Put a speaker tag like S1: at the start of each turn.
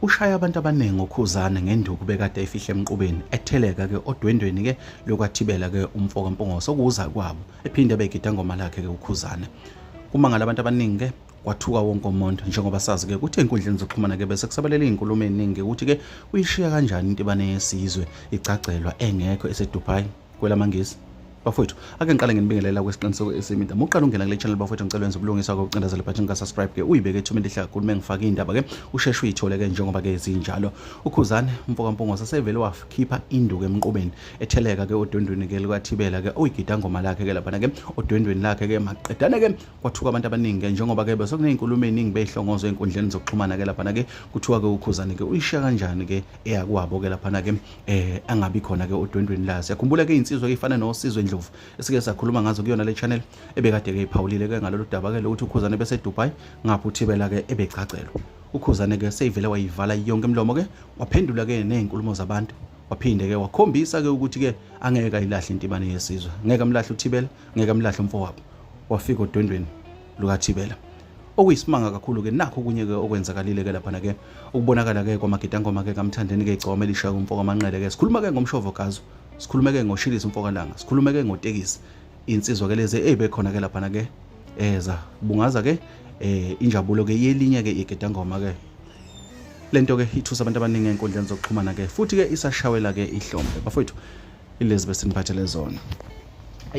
S1: ushaya abantu abaningi ukhuzane ngenduku bekade efihle emqubeni etheleka ke odwendweni ke lokwathibela ke umfo kaMpungose okuza kwabo ephinde begida ngoma lakhe ke ukhuzane uma ngalabantu abaningi ke kwathuka wonke umuntu njengoba sazi ke ukuthi enkundleni zokuxhumana ke bese kusabalela izinkulumo eziningi ukuthi ke uyishiya kanjani intibane yesizwe igcagcelwa engekho eseDubai kwela mangisi bafowethu ake ngiqale nginibingelela kwesiqiniseko esimida muqala ungena kule channel bafowethu ngicela wenza ubulungiswa kokucindezela ibhathi ngikasubscribe ke uyibeke ethumeni elihle kakhulu uma ngifake iy'ndaba ke usheshe uyithole ke njengoba ke zinjalo ukhuzane umfokampungo sasevele wakhipha induku emqubeni etheleka ke odwendweni ke likathibela ke uyigida ngoma lakhe ke laphana ke odwendweni lakhe ke maqedane ke kwathuka abantu abaningi ke njengoba ke besekuney'nkulumo ey'ningi bey'hlongozwe ey'nkundleni zokuxhumana ke laphana ke kuthiwa ke ukhuzane ke uyishiya kanjani ke eyakwabo ke laphana ke eh angabi khona ke odwendweni la siyakhumbula ke insizwa efana nosizwe ndlovu esike sakhuluma ngazo kuyona le channel ebekade ke iphawulile ke ngalolu daba ke lokuthi ukhuzane bese Dubai ngapha uthibela ke ebegcagcelwa ukhuzane ke seyivele wayivala yonke imlomo ke waphendula ke nezinkulumo zabantu waphinde ke wakhombisa ke ukuthi ke angeke ayilahle intibane yesizwe ngeke amlahle uthibela ngeke amlahle umfowabo wafika odwendweni lukathibela okuyisimanga kakhulu-ke nakho okunye-ke okwenzakalile-ke laphana-ke ukubonakala-ke kwamagidangoma-ke kamthandeni-ke igcoma elishaya kumfoka amanqele-ke sikhuluma-ke ngomshovo gazo sikhulume-ke ngoshilisi umfokalanga sikhulume-ke ngotekisi insizwa-ke lezi eyibekhona-ke laphana-ke eza eh, bungaza-ke um eh, injabulo-ke yelinye-ke igidangoma-ke le nto-ke ithusa abantu abaningi ey'nkundleni zokuxhumana-ke futhi-ke isashawela-ke ihlombe bafowethu ilezi besiniphathele zona